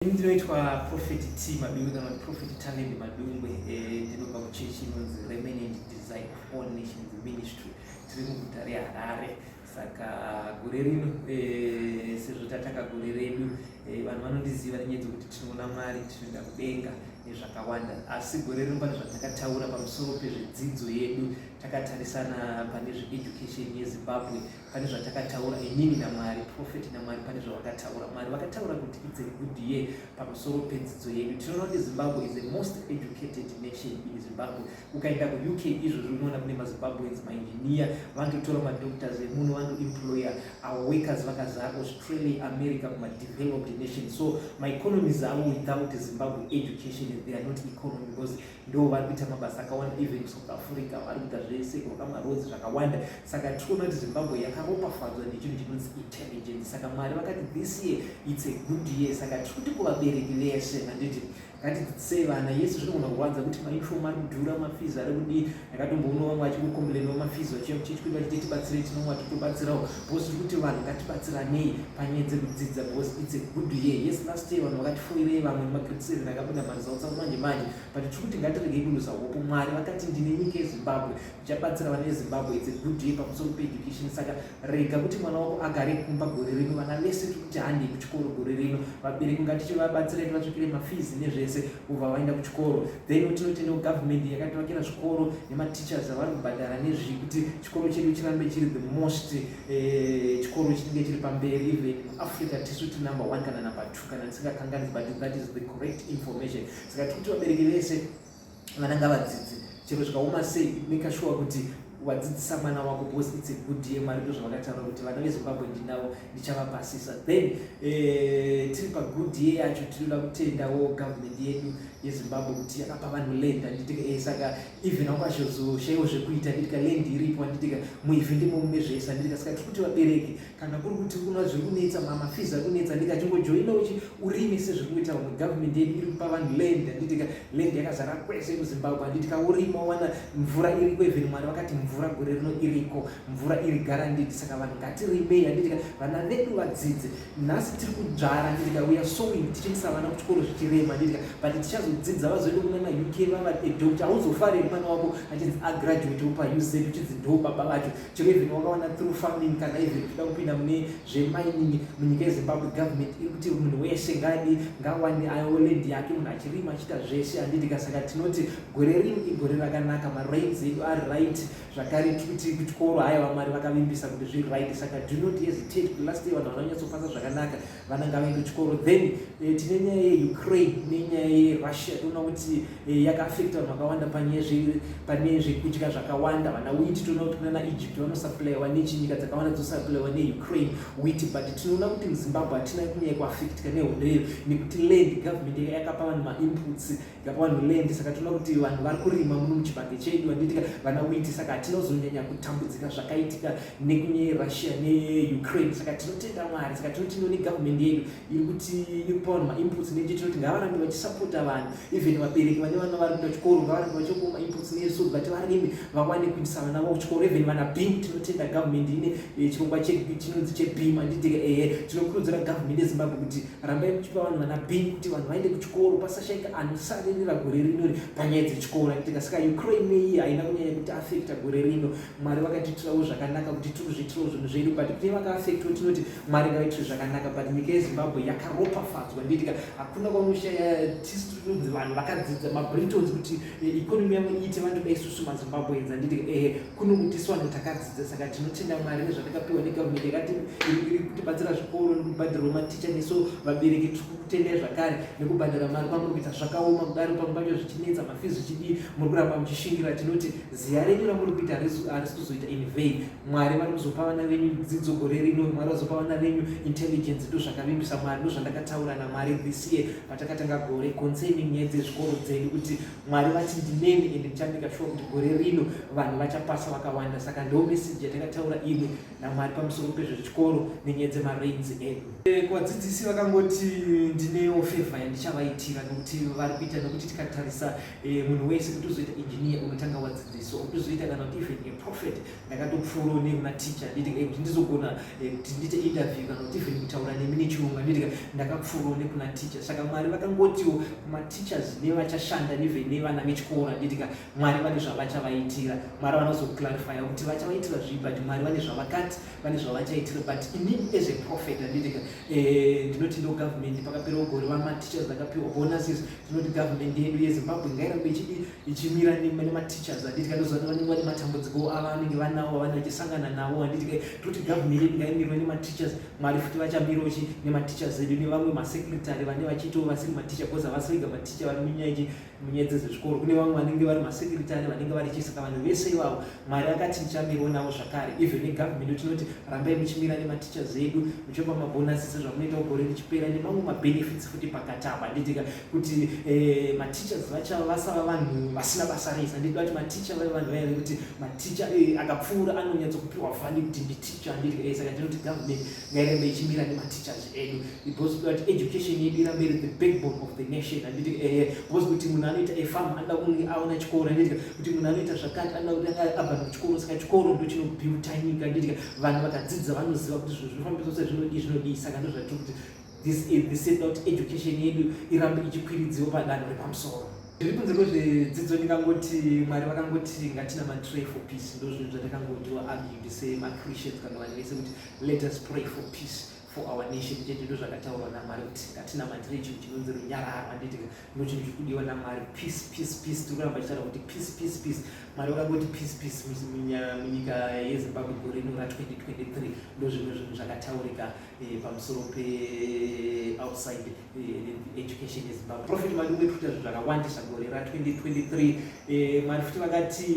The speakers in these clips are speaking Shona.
Ini ndinoitwa Prophet T Madungwe kana kuti Prophet Talent Madungwe eh, ndinobva kuchechi inonzi Remnant Design of All Nations Ministry tiri muguta reHarare saka gore rino eh, sezvo tatanga gore redu eh, vanhu vanondiziva nenyaya dzekuti tinoona mari tinoenda kudenga nezvakawanda asi gore rino pane zvatakataura pamusoro pezvedzidzo yedu takatarisana pane zveeducation yezimbabwe pane zvatakataura inini namwari profeti namwari pane zvavakataura mwari vakataura kuti its a good year pamusoro pedzidzo yedu tinoona kuti zimbabwe is a most educated nation in zimbabwe ukaenda kuuk izvozvi unoona kune mazimbabweans mainjiniya vanototora madoctors emuno vanoemployer our workers vakazara australia america kumadeveloped nation so maeconomies avo without zimbabwe education they are not economy because ndo vari kuita mabasa akawanda even south africa vari kuita zvese kuaka maroads zvakawanda saka tiri kuona kuti zimbabwe yakaropafadzwa nechinhu chinonzi intelligence saka mwari vakati this year its a good year saka tiri kuti kuvabereki vese handiti ngatidzidzisei vana yesu zvinogona kurwadza kuti maifom ari kudhura mafizi ari kudii ndakatomboona vamwe vachikukombilenwa mafizi vachiya muchechi kuti vachiti tibatsirei tinomwa titobatsirawo Boss tiri kuti vanhu ngatibatsiranei panyaya dzekudzidza because it's a good year. Yes last year vanhu vakatifoirei vamwe magrid seven akabuda maresults manje manje but tiri kuti ngatiregei kuluza hope. Mwari vakati ndine nyika yeZimbabwe ndichabatsira vana veZimbabwe. It's a good year pamusoro peeducation saka rega kuti mwana wako agare kumba gore rino. Vana vese tiri kuti handei kuchikoro gore rino. Vabereki ngatichivabatsira tivatsvakire mafees nezvese kubva vaenda kuchikoro. Then tinotenda kugovernment yakativakira zvikoro nemateachers avari kubhadhara nezvii kuti chikoro chedu chirambe chiri the most eh, chikoro chinenge chiri pamberi even africa tisu ti number one kana number two kana ndisingakanganisi but that is the correct information saka tiri kuti vabereki vese vana ngavadzidzi chero zvikaoma sei make sure kuti wadzidzisa mwana wako because its a good year mwari ndo zvavakataura kuti vana vezimbabwe ndinavo ndichavapasisa then eh, tiri pagood year yacho tinoda kutendawo government yedu yezimbabwe kuti yakapa vanhu land anditi e saka even hangu achizoshaiwa zvekuita nditika land iripo anditika muivhe ndimo mune zvese anditika saka tiri kuti vabereki kana kuri kuti kuna zviri kunetsa mama fees ari kunetsa andika achingojoina uchi urime sezviri kuita vamwe government yedu iri kupa vanhu land anditika land yakazara kwese muzimbabwe anditika urima wana mvura iriko even mwari vakati mvura gore rino iriko mvura iri garandidi saka vanhu ngatirimei anditika vana vedu vadzidze nhasi tiri kudzvara handidika we are sowing tichiendesa vana kuchikoro zvichirema handidika but tichazodzidza vazoenda kune mauk vava adoctor hauzofareri mwana wako achinzi agraduate upa uz uchinzi ndo baba vacho chero even wakawana through farming kana even uchida kupinda mune zvemining munyika yezimbabwe government iri kuti munhu wese ngadi ngawane ayo land yake munhu achirima achiita zvese handidika saka tinoti gore rino igore rakanaka marains edu ari right zvakare kuti kuchikoro haya vamwari vakavimbisa kuti zviri right saka do not hesitate kuti last day vanhu vanonyatsofasa zvakanaka vana ngavaende kuchikoro then eh, tine nyaya yeukraine nenyaya yerussia toona kuti eh, yakaafekta vanhu vakawanda pane zvekudya zvakawanda vana witi toona kuti kunana egypt vanosaplaiwa nechinyika dzakawanda dzosaplaiwa neukraine witi but tinoona kuti muzimbabwe hatina kunyaya kuafektika nehondo iyo nekuti land government yakapa vanhu mainputs Yapa vanhu land saka tinoona kuti vanhu vari kurima muno muchibage chedu handitika vana witi saka hatinozonyanya kutambudzika zvakaitika nekunye russia neukraine saka tinotenda mwari saka tinoti noni government yedu iri kuti iri kupa vanhu mainputs neje tinoti ngavarambe vachisapota vanhu even vabereki vane vana vari kuda chikoro ngavarambe vachiokuwa mainputs nesu vati varimi vawane kuitisa vana vavo chikoro even vana bim tinotenda government ine eh, chirongwa chinonzi chebim handitika ehe tinokurudzira government yezimbabwe kuti rambai muchipa vanhu vana bheni kuti vanhu vaende kuchikoro pasashaika anosaririra gore rino ri panyaya dzechikoro aitika saka ukraine iyi haina kunyanya kuti afekta gore rino mwari vakatiitirawo zvakanaka kuti tiri kuzviitirawo zvinhu zvedu but kune vakaafektawo tinoti mwari ngavaitire zvakanaka but nyika yezimbabwe yakaropafadzwa nditika hakuna kwaunoshaya tisu tinonzi vanhu vakadzidza mabritons kuti eh, economy yavo iite vanhu da isusu mazimbabweans anditika ehe kuno kuti isu vanhu takadzi saka tinotenda mwari nezvatakapiwa negavhumenti yakati iri kutibatsira zvikoro nekubhadhirwa maticha neso vabereki tiri kutendai zvakare nekubhadhara mari kwamuri kuita zvakaoma kudaro pamwe pacho zvichinetsa mafizi zvichidii muri kuramba muchishingira tinoti ziya renyu ramuri kuita harisi kuzoita in vain mwari vari kuzopa vana venyu dzidzo gore rino mwari vazopa vana venyu intelligence ndo zvakavimbisa mwari ndo zvandakataura namwari this year patakatanga gore concerning nyaya dzezvikoro dzedu kuti mwari vati ndineni ende ndichamika sure kuti gore rino vanhu vachapasa vakawanda saka ndo meseji yatakataura imwe namwari pamusoro pezvechikoro nenyaya dzemarains edu eh, kuvadzidzisi vakangoti ndinewo feva yandichavaitira nokuti vari kuita nokuti tikatarisa eh, munhu wese kuti uzoita engineer unotanga wadzidziswa kuti uzoita kana kuti even a prophet ndakatopfuura une kuna ticha nditika eh, kuti ndizogona eh, kuti ndiite interview kana kuti even kutaura nemi nechirungu nditika ndakapfuura une kuna ticha saka mwari vakangotiwo mateachers nevachashanda even nevana vechikora nditika mwari vane zvavachavaitira mwari vanozoclarifya kuti vachavaitira zvii but mwari vane zvavakati vane zvavachaitira but ini as a prophet anditika eh, ndinoti ndo government pakapera ugore vamatichers vakapiwa bonuses tinoti government yedu yezimbabwe ngairambe ichidi ichimira nematichers handiti kandoziva vanenge vane matambudziko ava vanenge vanawo vavane vachisangana nawo handiti kai toti gavhumeri yedu ngaimirwe nematichers mwari futi vachamirawo chi nematichers edu nevamwe masekretary vane vachitawo vasiri maticha bcause havasi vega maticha vari munyaya chi munyaya dzezvezvikoro kune vamwe vanenge vari masekretary vanenge vari chi saka vanhu vese ivavo mwari akati ndichamirwo navo zvakare even negavhumeri tinoti rambai muchimira nematichers edu muchopa mabhonasi sezvamunoitawo gore richipera nemamwe mabenefits futi pakatamba handiti ka kuti eh, mateachers vacha vasava vanhu vasina basa rese handidi vati mateacher vave vanhu vaya vekuti mateacher eh, akapfuura anonyatso kupiwa vhandi kuti nditeacher handidi eh, saka ndinoti government ngairembe ichimira nemateachers edu because kuti education yedu irambe iri the backbone of the nation handiti eh, because kuti munhu anoita efam anoda kunge aona chikoro handiti kuti munhu anoita zvakati anoda kuti anga abva kuchikoro saka chikoro ndo chinobuilta nyika handiti vanhu vakadzidza vanoziva kuti zvinhu zvinofambiswa sezvinodii zvinodii saka ndozvatiri kuti this is this is not education yedu irambe ichikwiridziwa padanho repamusoro zviri kunze kwezvedzidzo ndingangoti mwari vakangoti ngatina matray for peace ndo zvinhu zvandakangotiwa argued semachristians kana vanhu vese kuti let us pray for peace for our nation chete ndo zvakataurwa namwari kuti ngatina matray chinhu chinonzi runyararo anditi ndo chinhu chiri kudiwa namwari peace peace peace tiri kuramba tichitaura kuti peace peace peace mwari vakangoti peace peace munyika yezimbabwe gore rino ra 2023 ndo zvimwe zvinhu zvakataurika Eh, pamusoro peoutside eh, education yezimbabwe profit mari umetuita zvinhu zvakawandisa gore ra 2023 eh, mari futi vakati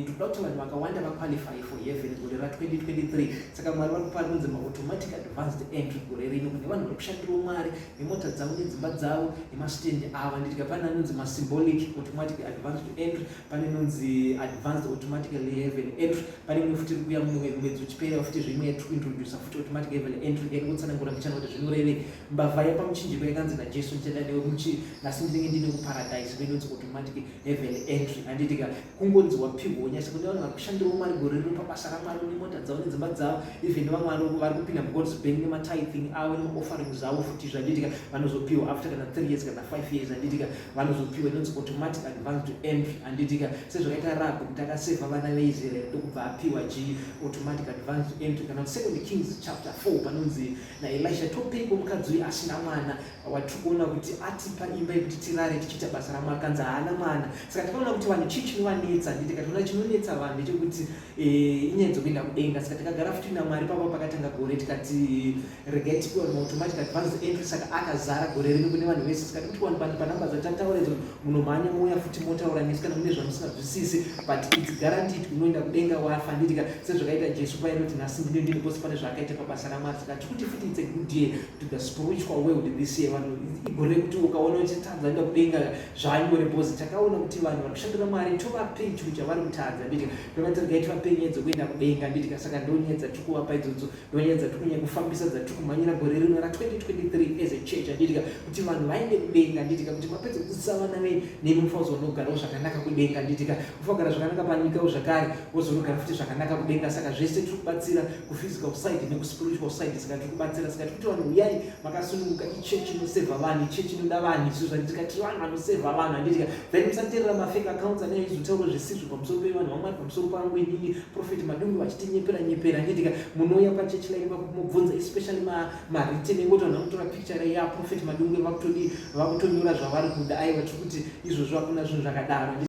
ndikuda kuti vanhu vakawanda vaqualify for heaven gore ra 2023 saka mwari vari kupari kunzi maautomatic advanced entry gore rino kune vanhu vari kushandiro mwari nemota dzavo nedzimba dzavo nemastend ava nditika pane anonzi masymbolic automatic advanced entry pane nonzi advanced automatically heaven entry pane imwe futi iri kuya mumwe mwedzi uchipera futi zveimwe yatikuintrodusa futi kuti mati gave entry then kutsanangura mbichana kuti zvinorevei mbavha yepamuchinjiko yakanzi najesu ndichada newe muchi nhasi ndinenge ndine kuparadise venonzi automatic heaven entry handitika kungonzi wapihwa unyasa kune vanhu vari kushandirawo mwari gore rino pabasa ramwari une mota dzavo nedzimba dzavo even vamwari vari kupinda mugods bank nematithing avo nemaoffering zvavo futi zvanditika vanozopihwa after kana three years kana five years handitika vanozopiwa inonzi automatic advance to entry anditika sezvakaita rab kuti akaseva vana veisrael ndokubva apiwa g automatic advance to entry kana second kings chapter 4 panonzi naelisha topeiko mukadzi uyu asina mwana watiri kuona kuti atipa imba yekuti tirare tichiita basa ramwari kanzi haana mwana saka takaona kuti vanhu chii chinovanetsa anditi kationa chinonetsa vanhu ndechekuti eh, inyaya dzokuenda kudenga saka takagara futi namwari papa pakatanga gore tikati regai tipiwe moto manje kati vanzi entry saka akazara gore rino kune vanhu vese sikati kuti vanhu vanhu panamba dzatataura idzo munomhanya mouya futi motaura nesu kana mune zvamusingazwisisi but its guaranteed unoenda kudenga wafa nditika sezvakaita jesu paya inoti nhasi ndine ndini kose pane zvaakaita pabasa ramwari saka tikuti futi its a good year to the spiritual world this year vanhu igore rekuti ukaona uchitadza enda kudenga zvanyore bhozi takaona kuti vanhu vari kushandira mwari tovapei chinhu chavari kutadza nditika pevati regai tivapei nyedzo kuenda kudenga nditika saka ndonyedza tikuvapa idzodzo Nyaya dzatiri kunyanya kufambisa dzatiri kumhanyira gore rino ra 2023 as a church handitika kuti vanhu vaende kudenga handitika kuti vapedze kudzidzisa vana venyu nemi mufazonogarawo zvakanaka kudenga handitika mufagara zvakanaka panyikawo zvakare wozonogara futi zvakanaka kudenga saka zvese tiri kubatsira kuphysical side nekuspiritual side saka tiri kubatsira saka tiri kuti vanhu uyai makasununguka ichechi inosevha vanhu ichechi inoda vanhu isu zvanditika tiri vanhu vanosevha vanhu handitika then musateerera mafake accounts anenge izotaura zvisizvo pamusoro pevanhu vamwari musoro pangu inini prophet madundu vachitinyepera nyepera nditika munouya pachechi laini vakumubvunza especially maritini engoti vanhu vakutora picture ya prophet madundu vakutodi vakutonyora zvavari kuda aiwa tiri kuti izvozvo hakuna zvinhu zvakadaro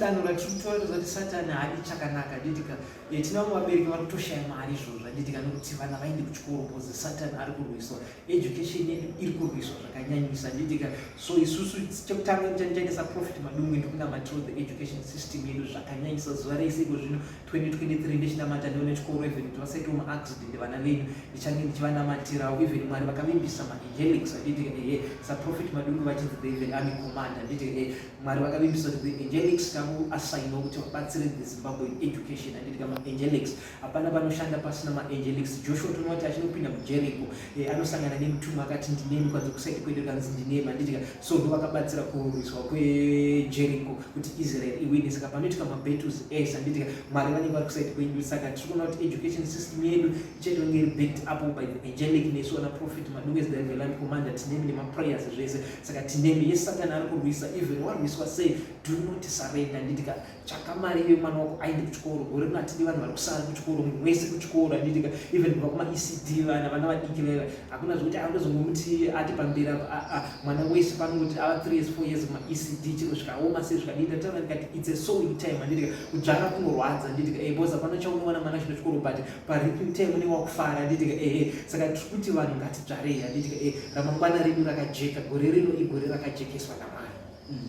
satan vachitaura zati satani haadi chakanaka nditika tina vamwe vabereki vari kutoshaya mari izvozvo anditika nokuti vana vaende kuchikoro bcause satani ari kurwiswa education yedu iri kurwiswa zvakanyanyisa nditika so isusu chekutanga tichaendesa profit madungwe ndokunamatirwo the education system yedu zvakanyanyisa zuva reiseko zvino 2023 ndichinamata ndiwo nechikoro even kuti vasaite mu accident vana venyu ndichange ndichivanamatirawo even mwari vakavimbisa maangelics anditi ehe saprofet madungu vachinzi the even army commander anditi ehe mwari vakavimbisa kuti the angelics takuasainiwa kuti vabatsire the zimbabwe education anditi ka maangelics hapana panoshanda pasina maangelics joshua tonoona kuti achinopinda mujeriko eh, anosangana nemutumwa akati ndinemi kwanzi kusaiti kwete kanzi ndinemi anditi so ndovakabatsira kurwiswa kwejeriko kuti israel iwine saka panoitika mabattles ese handitika mwari vanenge vari kusaidi kwedu saka tiri kuona kuti education system yedu ichatonge iri backed up by the angelic nesu ana prophet madungezi daveland commander tinemi nemaprayers zvese saka tinemi yesatani ari kurwisa even warwiswa sei do not surrender handitika tsvaka mari ive mwana wako aende kuchikoro gore rino hatidi vanhu vari kusara kuchikoro munhu wese kuchikoro handiitika even kubva kumaecd vana vana vadiki vaiva hakuna zvekuti aatozongomuti ati pamberi mwana wese panoti ava three years four years maecd chino zvikaoma sei zvikadiita taura ndikati its a sowing time handiitika kudzvara kunorwadza handiitika e bcause hapana chaunowana mwana chino chikoro but pariping time une wakufara handiitika ehe saka tiri kuti vanhu ngatidzvarei handiitika e ramangwana redu rakajeka gore rino igore rakajekeswa namwari mm.